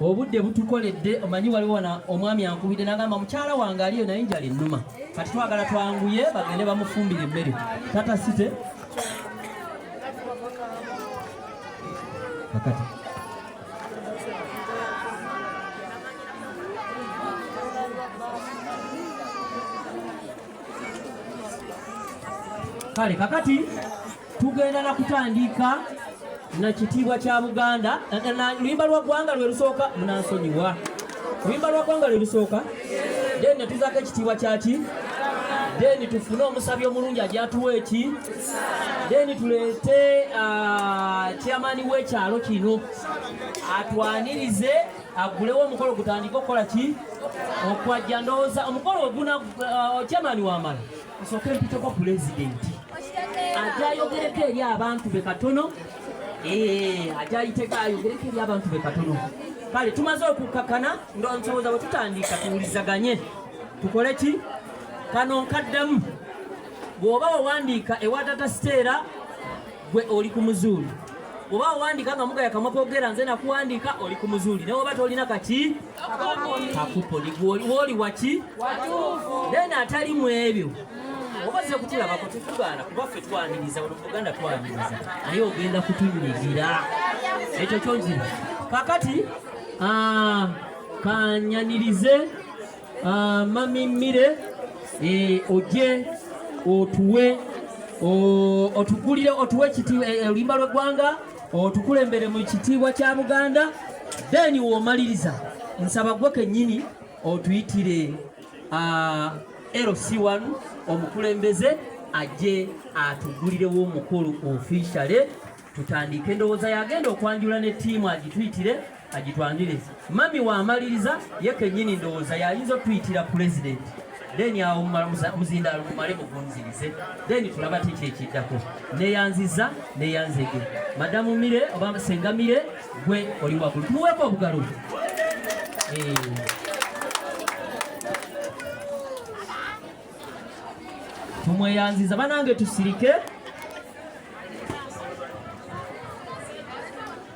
obudde butukoledde omanyi waliwo na omwami ankubidde nagamba mukyala wange aliyo naye njala ennuma kati twagala twanguye bagende bamufumbira emmere tata site kakati kale kakati tugenda na kutandiika na kitiibwa kya buganda luyimba lwa ggwanga lwe lusooka munansonyiwa luyimba lwa ggwanga lwe lusooka then netuzaako ekitiibwa kyaki then tufune omusabi omulungi ajatuwa eki then tuleete ah, chairman w'ekyalo kino atwanirize agulewo omukolo gutandike okukola ki okwajja ndowooza omukolo oguna uh, chairman wamala Nsooke mpiteko pulezidenti ajja ayogereko eri abantu be katono eh, ajja ayiteko ayogereko eri abantu be katono kale tumaze okukkakana ndonsoboza bwe tutandika tuwulizaganye tukole ki kano nkaddamu bw'oba wawandiika ewa tata siteera gwe oli ku muzuuli oba owandiika nga mugaya kamwa kogera nze nakuwandiika oli ku muzuuli nawe oba tolina kaki kakupo woli waki then atali mu ebyo mm. obaze kutulabako tetugaana kuba ffe twaniriza wano muganda twaniriza naye ogenda kutunyigira ekyo kyongira kakati ah, kanyanirize ah, mamimire eh, oje otuwe otugulire otuwe eh, eh, oluyimba lw'eggwanga otukulembere mu kitiibwa kya buganda then womaliriza nsaba gwe kennyini otuyitire uh, lc1 omukulembeze ajje atugulirewo omukulu ofishale tutandike endowooza yagenda okwanjula ne tiimu agituyitire agitwanjulezi mami wamaliriza ye kenyini ndowooza yayinza otuyitira pulezidenti then awo muzindaalo mumale mugunzirize then tulaba kiki ekiddako neyanziza neyanzege madamu mire oba senga mire gwe oli wagulu tumuweeko obugalo eh. tumweyanziza banange tusirike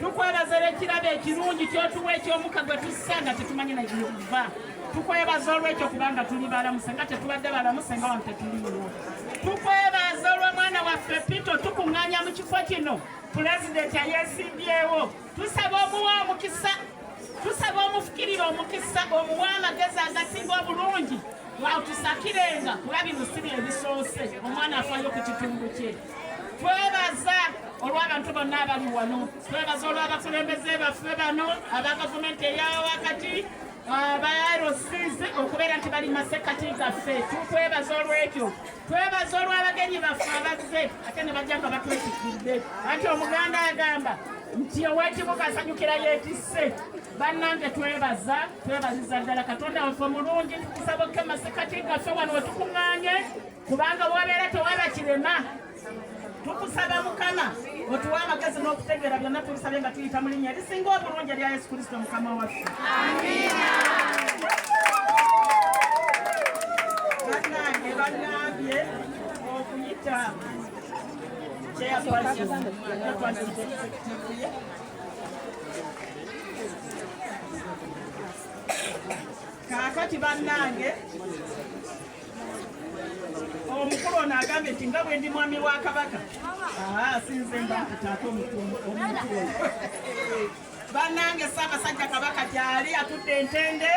tukwebaza olw'ekirabo ekirungi kyotuwa ekyomuka gwe tussa nga tetumanyi nayokuva tukwebaza olwekyo kubanga tuli balamuse nga tetubadde balamuse nga wano tetuliwo tukwebaza olw'omwana waffe pito tukuŋŋanya mu kifo kino pulezidenti ayesimbyewo tusaba omuwa omukisa tusaba omufukirira omukisa omuwa amagezi agasinga obulungi watusakirenga kuba bino si byebisoose omwana afayo ku kitundu kye twebaza olw'abantu bonna abali wano twebaza olw'abakulembeze baffe bano aba gavumenti eyawakati abarosize okubeera nti bali masekkati gaffe tukwebaza olwekyo twebaza olw'abagenyi baffe abazze ate ne bajja nga batwetikidde anti omuganda agamba nti owekibuga asanyukira yetisse bannange twebaza twebaziza ddala katonda waffe mulungi tukusaba okke masekkati gaffe wano wetukuŋŋaanye kubanga bwobeera tewaba kirema tukusaba mukama otuwa amagezi n'okutegeera byonna tubisabe nga tuyita mu linnya erisinga obulungi erya yesu kristo mukama waffe banange banambye okuyita kakati banange omukulu ono agambye nti nga bwendi mwami wa kabaka sinze mbakutaate omukulu banange ssaabasajja kabaka gyali atudde entende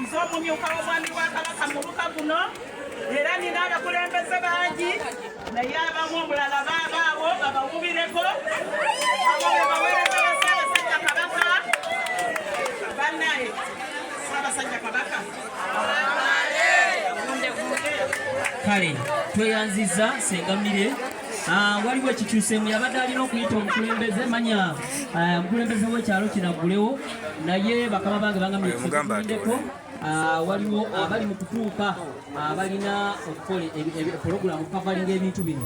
nze omumyuka w'omwami wa kabaka muluka guno era nina abakulembeze bangi naye abamu omulala baabaawo babawubireko abo bebawereza bassaabasajja kabaka banaye ssaabasajja kabaka kale tweyanziza sengamire ah, waliwo ekikyusemu yabadde alina okuyita omukulembeze manya ah, omukulembeze wekyalo kinaggulewo naye bakama bange bangamdeko ah, waliwo abali mu kutuuka abalina okukola pulogulamu kukavalinga ebintu bino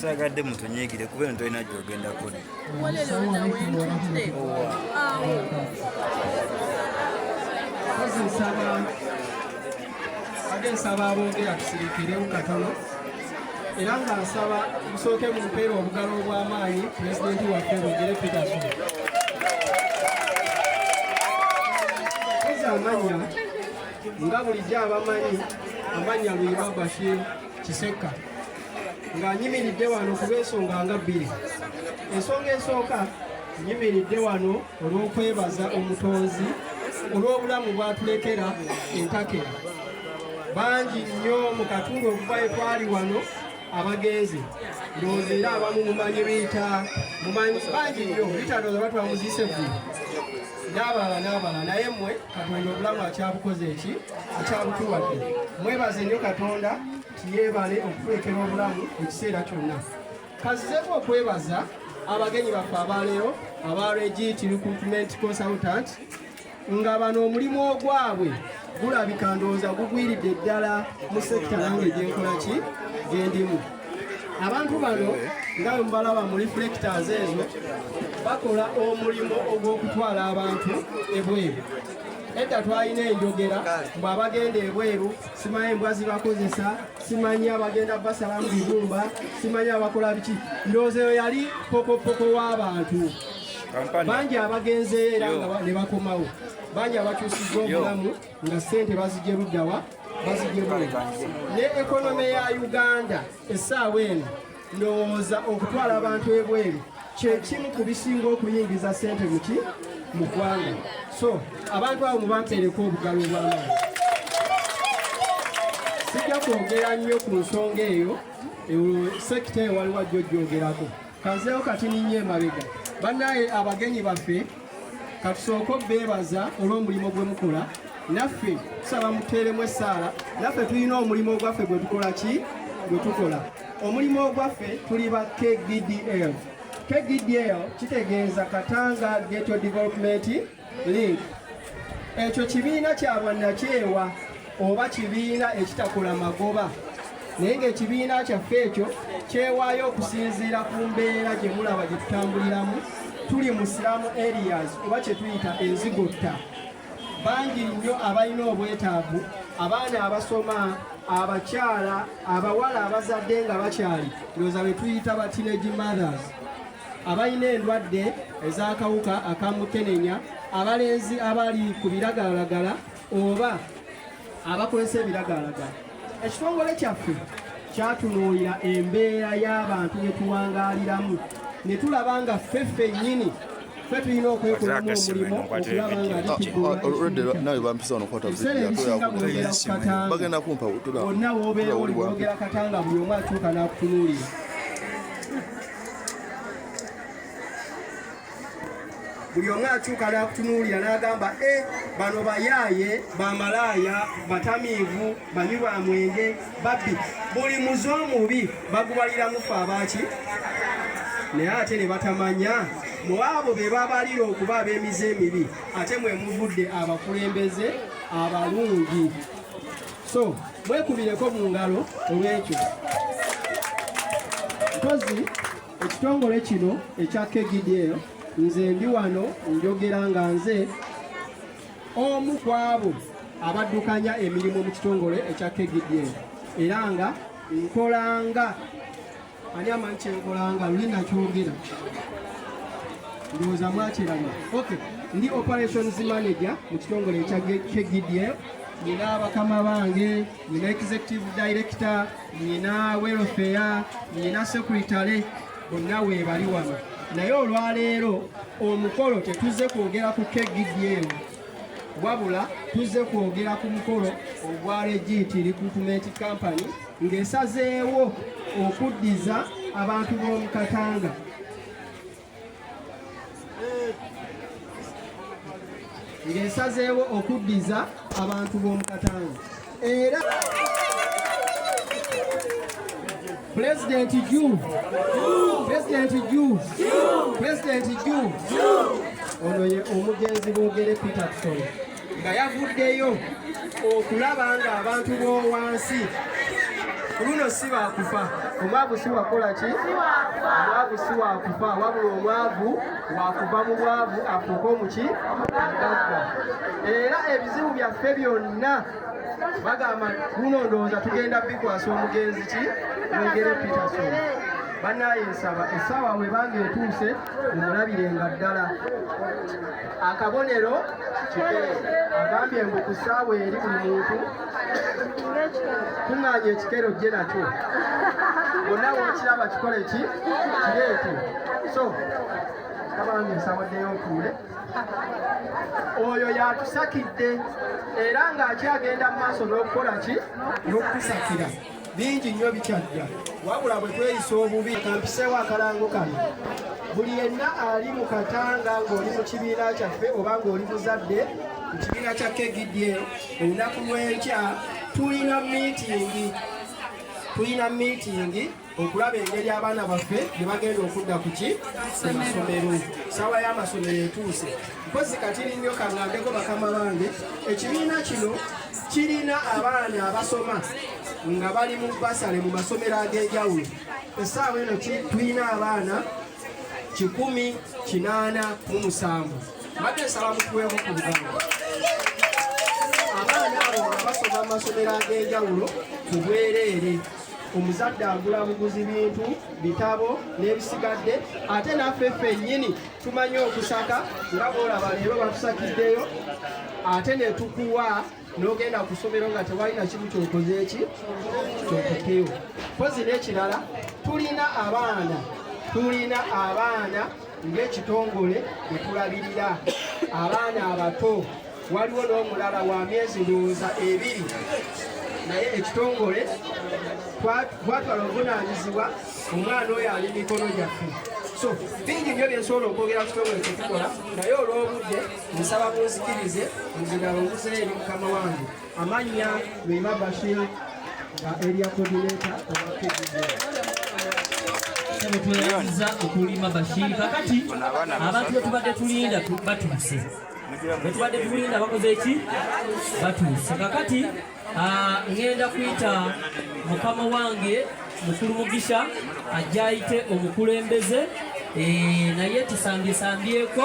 saagadde mutunyiigire kuba eno tolina gyogenda kodi age nsaba abongera tusirikirewo katono era nga nsaba busooke mu mpeera obugalo obw'amaanyi pulezidenti waffe bugere peterson kozi amanya nga bulijjo abamanyi amanya luyima bashir kisekka nga nyimiridde wano kubensonga nga bbiri ensonga esooka nyimiridde wano olw'okwebaza omutonzi olw'obulamu bwatulekera entakera bangi nnyo mu katundu okuvayo twali wano abagenzi ndowooza era abamu mumanyi biita mumanyi bangi nnyo biita ndowooza batwamuziise ggulu n'abalala n'abalala naye mmwe katonda obulamu akyabukoze eki akyabutuwadde mwebaze nnyo katonda Yeebale okukulekera obulamu ekiseera kyonna. Kazzeeko okwebaza abagenyi baffe abaleero aba Regit Recruitment Consultant nga bano omulimu ogwabwe gulabika ndowooza gugwiridde ddala mu sekita nange gyenkola ki gyendimu abantu bano nga mubalaba mu reflectors ezo bakola omulimu ogw'okutwala abantu ebweru edda twalina enjogera mbu abagenda ebweru simanyi embwa zibakozesa simanyi abagenda basala mu bibumba simanyi abakola biki ndowooza eyo yali pokopoko w'abantu bangi abagenzeyo era nga ne bakomawo bangi abakyusizza obulamu nga ssente bazigye luddawa bazigye ne ekonome ya uganda essaawa eno ndowooza okutwala abantu ebweru kyekimu ku bisinga okuyingiza sente muki mu ggwanga so abantu abo mubateereko obugalo obwamaani sijja kwogera nnyo ku nsonga eyo sekita eyo waliwo ajja ojjogerako kanzeewo kati ninyo emabega bannaye abagenyi baffe katusooke obeebaza olw'omulimu gwe mukola naffe tusaba muteeremu essaala naffe tulina omulimu ogwaffe gwe tukola ki gwe tukola Omulimu ogwaffe tuli ba KDDL. KDDL kitegeeza Katanga Ghetto Development Link. Ekyo kibiina kya bwannakyewa oba kibiina ekitakola magoba naye ng'ekibiina kyaffe ekyo kyewaayo okusinziira ku mbeera gye mulaba gye tutambuliramu tuli mu siramu areas oba kye tuyita enzigotta bangi nnyo abalina obwetaavu abaana abasoma abakyala abawala abazadde nga bakyali ndowooza be tuyita ba teenage mothers abalina endwadde ez'akawuka akamukenenya abalenzi abali ku biragalalagala oba abakozesa ebiragalalagala ekitongole kyaffe kyatunuulira embeera y'abantu ne tuwangaaliramu ne tulaba nga ffe ffennyini ffe tulina okwekolamu omulimu okulaba nga lituebiseera ebisinga bwogera ku katanga onna woobeera oli bwogera katanga buli omu atuuka n'akutunuulira buli omu akyuka n'akutunuulira n'agamba e bano bayaaye bamalaaya batamiivu banywi ba mwenge babbi buli muze omubi bagubaliramu fe abaaki naye ate ne batamanya mu abo be babalira okuba ab'emize emibi ate mwe muvudde abakulembeze abalungi so mwekubireko mu ngalo olw'ekyo mpozi ekitongole kino ekya kgdl nze ndi wano njogera nga nze omu ku abo abaddukanya emirimu mu kitongole ekya kgdl era nga nkolanga ani amanyi kyenkolanga luli nakyogera ndowooza mwakiraba ok ndi operations manager mu kitongole ekya kgdl nina bakama bange nina executive director nyina welfare nyina sekuritale bonna weebali wano naye olwaleero omukolo tetuzze kwogera ku kgdm wabula tuzze kwogera ku mukolo ogwa regiti recruitment company ng'esazeewo okuddiza abantu b'omu katanga ng'esazeewo okuddiza abantu b'omu katanga era pulezidenti ju pulezidenti ju pulezidenti ju ono ye omugenzi boogere peterson nga yavuddeyo okulaba nga abantu b'owansi ku luno si bakufa omwavu si wakola ki omwavu si wakufa wabula omwavu wakuva mu bwavu afuuka omuki agagga era ebizibu byaffe byonna bagamba kuno ndowooza tugenda bikwasa omugenzi ki mugere peterson banaye nsaba essaawa webanga etuuse mumulabirenga ddala akabonero agambye mbu ku ssaawa eri buli muntu kuŋŋaanya ekikero jje nakyo bonna wokiraba kikole ki kireete so kabange nsawaddeyo ntuule oyo yatusakidde era ng'akyagenda mu maaso n'okukola ki n'okutusakira bingi nnyo bikyajja wabula bwe tweyisa obubi kampiseewo akalango kano buli yenna ali mu katanga ng'oli mu kibiina kyaffe oba ng'oli muzadde mu kibiina kya kegidye olunaku lw'enkya tulina miitingi tulina miitingi okulaba engeri abaana baffe gye bagenda okudda ku ki ku masomero saawa y'amasomero etuuse mpozi katiri nnyo kangambeko bakama bange ekibiina kino kirina abaana abasoma nga bali mu basale mu masomero ag'enjawulo essaawa eno tulina abaana kikumi kinaana mu musanvu mbadde nsaba mukuweeko ku bugano abaana abo nga basoma mu masomero ag'enjawulo ku bwereere omuzadde agula buguzi bintu bitabo n'ebisigadde ate naffe ffennyini tumanyi okusaka nga bwolaba leero batusakiddeyo ate netukuwa nogenda kusomero nga tewalina kimu kyokoze eki kyokukewo kozi nekirala tulina abaana tulina abaana ng'ekitongole bwe tulabirira abaana abato waliwo n'omulala wa myezi ndowooza ebiri naye ekitongole twatwala obuvunanyizibwa omwana oyo ali mikono gyaffe so bingi nyo byensobola okwogera kukitongole kyetukola naye olw'obudde nsaba munzikirize nzigala omuzeyo eri mukama wange amannya lwima bashir nga eria kodineta obakeeaza okulima bashir kakati abantu betubadde tulinda batuuse bwetubadde tulinda bakoze eki batuuse kakati ah, ŋenda kuyita mukama wange mukulu mugisha ajja ayite omukulembeze eh, naye tusambyesambyeko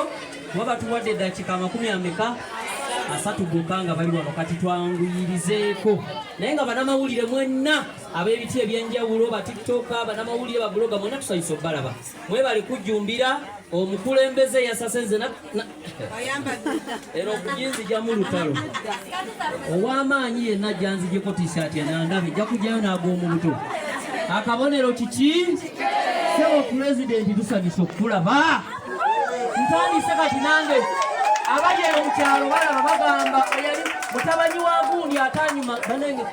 kuba batuwadde eddakika amakumi ameka asatu gokka nga bali wano kati twanguyirizeeko naye nga banamawulire mwenna ab'ebiti ebyenjawulo batiktoka banamawulire babuloga mwena tusayisa obalaba mwebale kujjumbira omukulembeze yasase nze era okujinzijamu lutalo ow'amaanyi yenna janzijeko tishaati enandabe nja kujjayo n'ag'omu buto akabonero kiki sebo pulezidenti tusanyusa okukulaba ntandise kati nange abali eyo mu kyalo balaba bagamba eyali mutabani wa gundi atanyuma banenge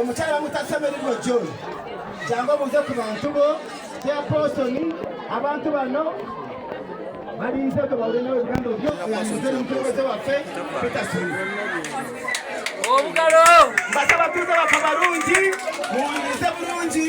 omukyala mutasemerirwa john jangu obuuze ku bantu bo teaposoni abantu bano balinze gwe bawule nawe ebigambo byo olanyize n'omukulembeze waffe peterson obugalo mbasaba tuuze bafa balungi muwulirize bulungi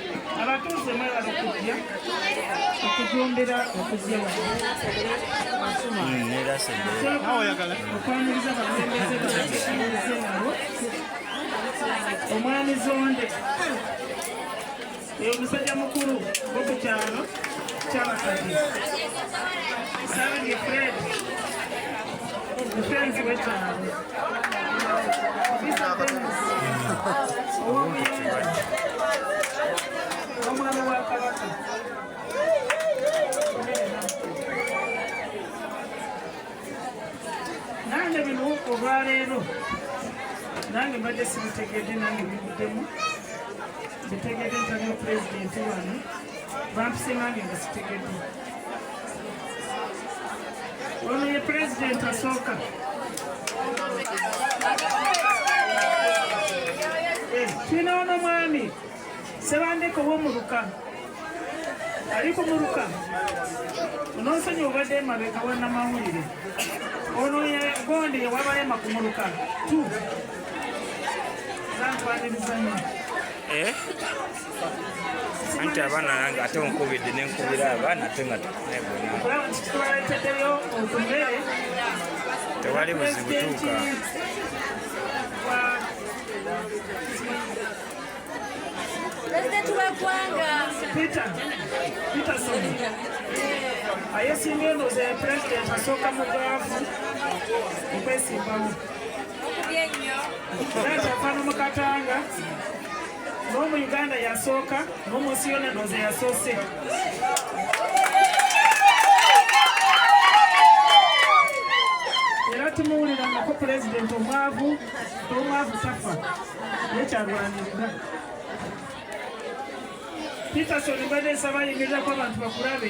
abatuuze mwebala okujja okujumbira okujja okwaniriza abakulembeze babakisinze nabo omwami zonde omusajja mukulu okukyalo kyabakadde sabye fred musenzi wekyalo nange bino olwaleero nange mbadde sibitegedde nange bibuddemu bitegedde ntabyo pulezidenti wano bampisemange nga sitegedde Ono ye president asooka. Kino ono mwami Sebandeko w'omuluka ali ku muluka ononsonyi obadde emabega wanamawulire ono yegonde yewabalema ku muluka tu zantwaniriza nnyo eh? anti abaana nange ate onkubidde nenkubira abaana ate nga tewali buzibu tuuka ayesinga eno ze pulezidenti asooka mu gaavu okwesimbamu era kyafana mu katanga n'omu uganda yasooka n'omu nsi yona ndooza yasoose era tumuwulira nako pulezidenti omwavu omwavu tafa nekyalwanirira peterson mbadde nsaba yimirirako abantu bakulabe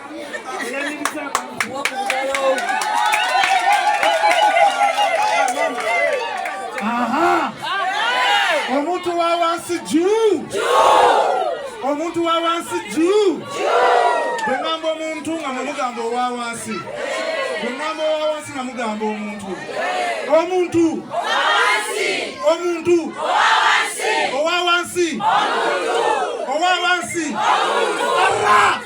Aha! Omuntu wa wansi juu! Omuntu wa wansi juu! Bwe ngamba omuntu nga mumugamba owa wansi. Bwe ngamba owa wansi nga mugamba omuntu. Omuntu! Omuntu! Owa wansi! Owa wansi! Omuntu! Owa wansi! Omuntu!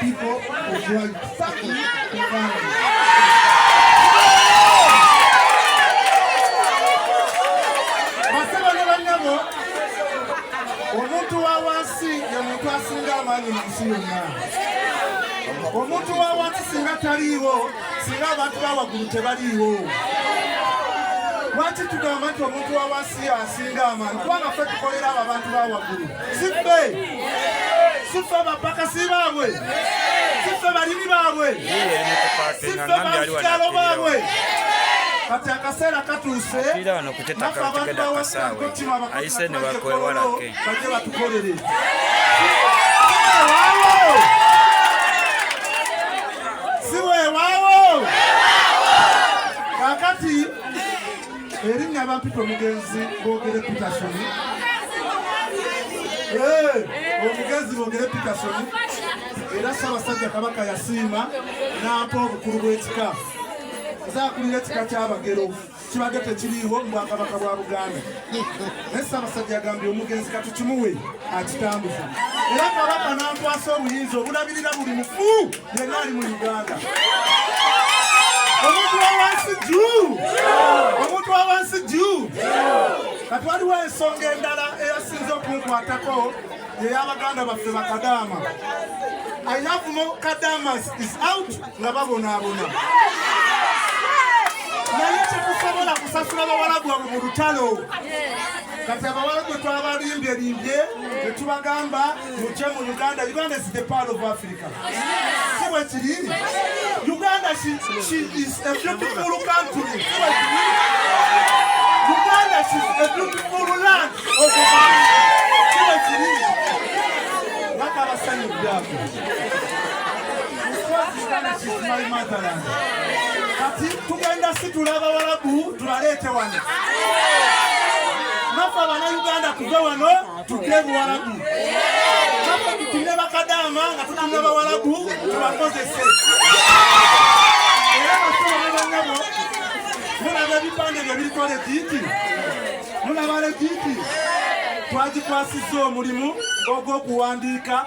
people of world. Fuck you. omuntu wa wansi ye muntu asinga amaanyi mu nsi yonna omuntu wa wansi singa taliiwo singa abantu bawaggulu tebaliiwo lwaki tugamba nti omuntu wa wansi asinga amaanyi kubanga ffe tukolera abo abantu bawaggulu siffe siffe bapakasi baabwe siffe balimi baabwe siffe balukyalo baabwe kati akaseera katuuse nafe abantu bawasakotino abakakakakolo baje batukolere siwewawo kakati erinnya abampita omugenzi boogere peterson omugenzi boogere peterson era ssaabasajja kabaka yasiima n'ampa obukulu bw'ekika nzaakulira ekika ky'abagero kibadde tekiriiwo mu bwakabaka bwa buganda naye Ssaabasajja agambye omugenzi katukimuwe akitambuza era kabaka n'ankwasa obuyinza obulabirira buli mufu yenna ali mu Uganda omuntu wawansi juu omuntu wawansi juu kati waliwo ensonga endala eyasinza okunkwatako yeyabaganda baffe bakadaama I have more kadamas is out nga babonaabona naye tetusobola kusasula bawala gwabwe mu lutalo kati abawala gwe twabalimbye limbye netubagamba muje mu uganda uganda is the part of africa siwe kiri uganda she, she is a beautiful country siwe kiri uganda she is a beautiful land of siwe kiri nakabasanyuddako kati tugenda situla abawalabu tubaleete wano nafe abanauganda tuve wano tuge buwalabu nafe tutume bakadaama nga tutume bawalabu tubakozese era basobanabanyabo mulaba ebipande byo biriko legiiti mulaba legiiti twagikwasizza omulimu ogw'okuwandiika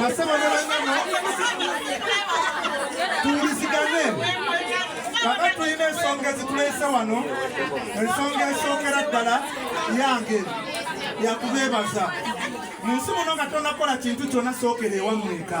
basebo ne banyama tuwulizigane kaka tulina ensonga ezituleese wano ensonga esookera ddala yange yakubeebaza mu nsi muno nga tonakola kintu kyona sookera ewammweka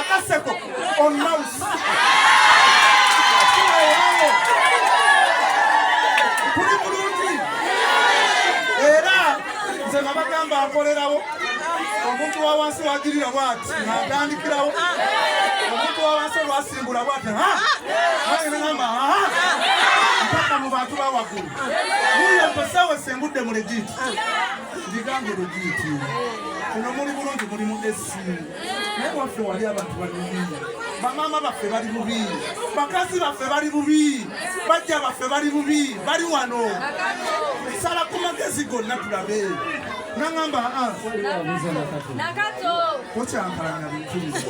akaseko on mouse kuli bulungi era nze nabagamba akolerawo omuntu wa wansi wagirira bwati natandikirawo omuntu wa wansi olwasimbula bwati aeama mpaka mu bantu bawagulu uyo mposawe sengudde mu legiti ndigambe lugiiti kuno muli bulungi muli mu esi naye waffe wali abantu bali bubi bamaama baffe bali bubi bakazi baffe bali bubi bajja baffe bali bubi bali wano sala ku magezi gonna tulabe nangamba ah. okyankalanya bintu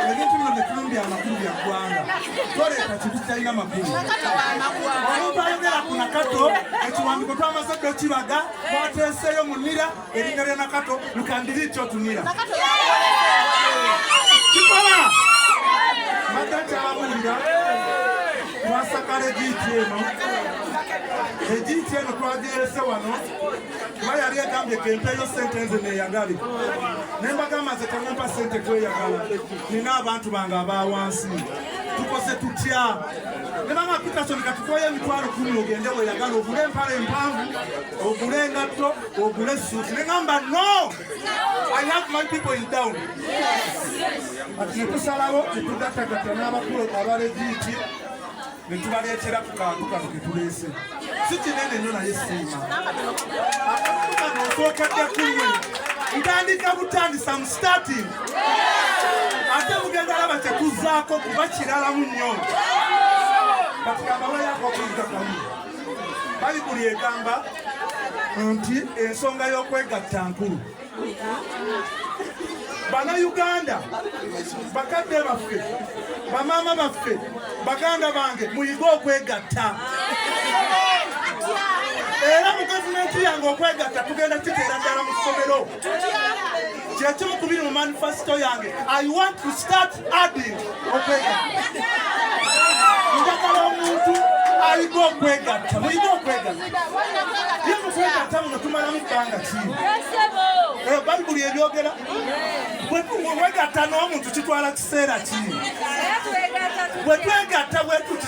ebintu bino byetumbya amakulu bya ggwanga toleeta kintu kitalina makulu omuntu ayogera ku nakato ekiwandiko twamaze dde okibaga mwateeseeyo munira erinnya lya nakato lukandiri kyo tunira kikola madda kyabulira twasakala egiiti eno egiiti eno twagirese wano kuba yali egambye kempeeyo sente nze neeyagale ne mbagamba nze temumpa sente kweyagala nina abantu bange abawansi tukoze tutya ne mama peterson katukoye emitwalo kumi ogende weyagala ogule empala empanvu ogule engatto ogule suuti ne ngamba no i have my people in down kati netusalawo netugatagatta n'abakulu abalegiti ne tubaleetera ku kantu kano ke tuleese si kinene nnyo naye siima akantu kano osookedde kuwe ntandika butandisa mu starting ate mugenda laba kyekuzaako kuba kiralamu nnyo kati kamawayako okuyiga kamu bayibuli egamba nti ensonga y'okwegatta nkulu banauganda bakadde baffe bamaama baffe baganda bange muyige okwegatta era mu gavumenti yange okwegatta tugenda kiteera ddala mu ssomero kyekimu kubiri mu manifesito yange i want to start njagala omuntu aliko okwegatta mulina okwegatta muno tumalamu bbanga ki eh, bayibuli ebyogera wegatta n'omuntu kitwala kiseera ki bwetwegatta bwetuti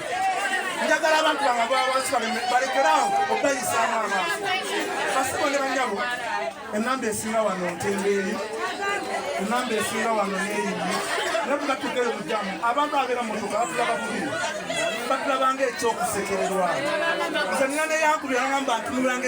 njagala abantu bange abawansi balekerawo okweyisaamu amaaso basibo ne banyabo enamba esinga wano ntenga eri enamba esinga wano neeyiyi nebugatukeyo mujamu abantu abeera mutuka batula bakubi batulabanga ekyokusekererwa nze nina neyankubirangamba ntunulanga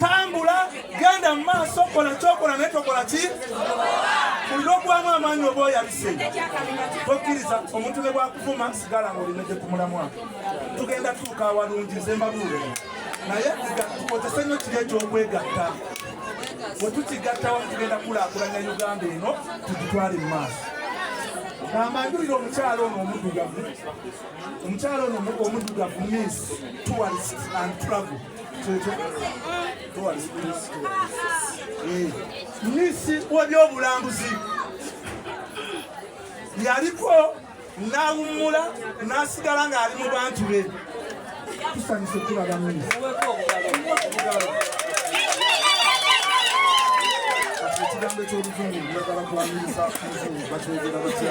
tambula genda mu maaso kola kyokola naye tokola ki kulina okuwamu amaanyi oba oyabise tokkiriza omuntu ne bwakuvuma sigala nga olina gye kumulamwa tugenda tuuka awalungi nze mbabuule naye tukozese nnyo kiri ekyokwegatta bwe tukigattawa tugenda kulaakulanya uganda eno tugitwale mu maaso ambanjulira omukyalo ono omudugavu omukyalo ono omudugavu miss tourist and travel minisi w'ebyobulambuzi yaliko n'awummula n'asigala ng'ali mu bantu be tusanyuse tulaba minisi ekigambo eky'oluzungu njagala kuwanyiriza oluzungu bakyogera batya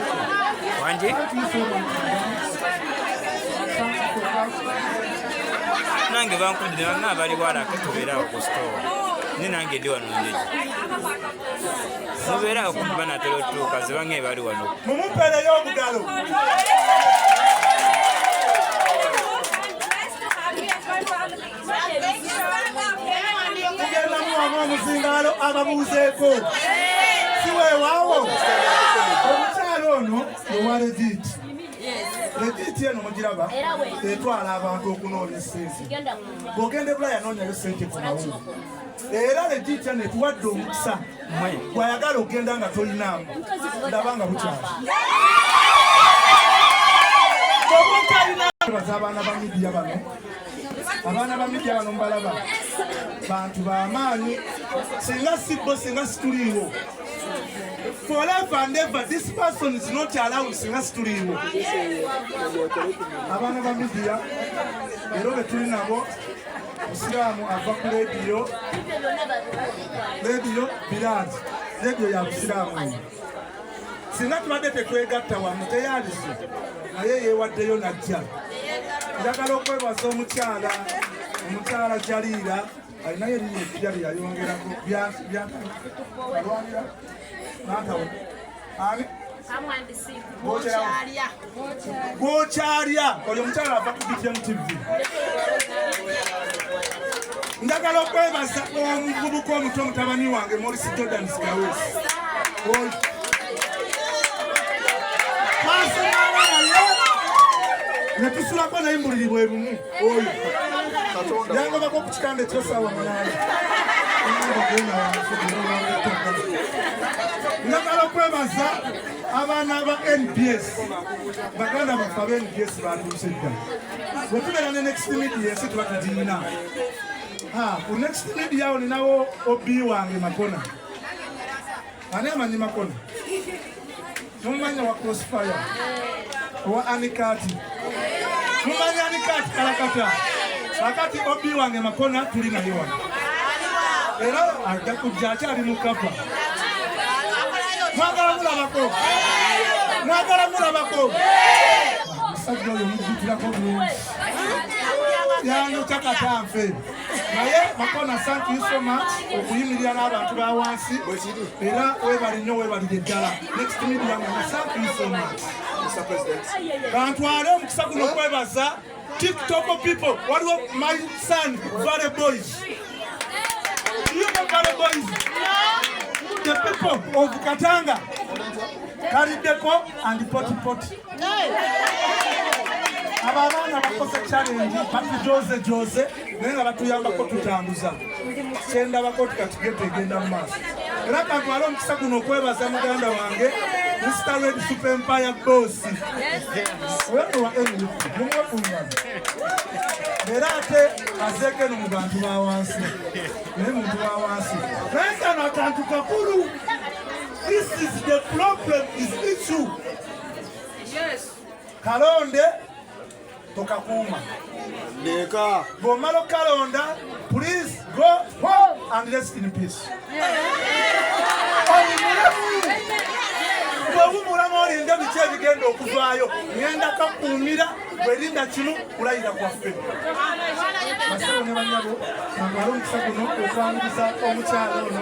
Wanji? nange bankundire bange abali walake tubeerawo ku sitowa ni nange ndi wano ndeji mubeerawo kumbi banatera otuuka zibange ebali wano mumupereyo omugalo kugendamu wamu omuzingaalo ababuuzeeko siweewaawo omukyalo ono owa legiti legiti eno mugiraba etwala abantu okunoonya sente bwogenda ebula yanoonyayo sente ku mawungu era legiti eno etuwadde omukisa gwayagala okugenda nga tolinaamu ndaba nga bukyala baza abaana ba midiya bano abaana ba midia bano mbalaba bantu bamaanyi singa sibbo singa situliiwo forever and ever this person is not allowed singa situliiwo abaana ba midia leero betuli nabo musiraamu ava ku lediyo lediyo biraati lediyo ya busiraamu singa tubadde tetwegatta wamu teyalise naye yewaddeyo najja njagala okwebaza omukyala omukyala jaliira alinayo eriyo ekija byeyayongerako byalwanira natawo ani gwokyalya oyo omukyala ava ku btm tv njagala okwebaza omuvubuka omuto mutabani wange morisi jordan skawes netusulako naye mbuliri bwe lumu oyo yangobako okukikanda ekyosawa munana njagala okwebaza abaana ba nbs baganda baffe aba nbs batuuse dda wetubeera ne next media ensi tuba tugirina ku next media awo ninawo obi wange makona ani amanyi makona nomumanya wa crossfire owa anikati mumanyani kati kalakata kakati obi wange makona tuli naye wano era ajja kujja akyali mukapa mwagala mulabako mwagala mulabako omusajja oyo mujjutirako bulungi yanyuta katanfe naye makona thank you so much okuyimirira n'abantu ba wansi era webali nnyo webalire ddala next media thank you so much kantwale omukisa guno okwebaza tiktok people waliwo my son vale boys vale boys the people of katanga kaliddeko and potipoti abo abaana bakoze challenge batujoze joze, joze. naye nga batuyambako tutambuza kyendabako ti kati geto egenda mu maaso era kantwala omukisa guno okwebaza muganda wange mr red super empire bosi wenuwa enufu mumwekunyana era ate azeeko eno mu bantu ba wansi naye muntu wa wansi naye kano akantu kakulu this is the problem is issue kalonde tokakuuma leka bw'omala okukalonda please go home and rest in peace bwewumulamu olinda biki ebigenda okuvaayo ngenda kakuumira bwerinda kimu kulayira kwaffe basebo ne banyabo amala omukisa guno okwaniriza omukyalo ono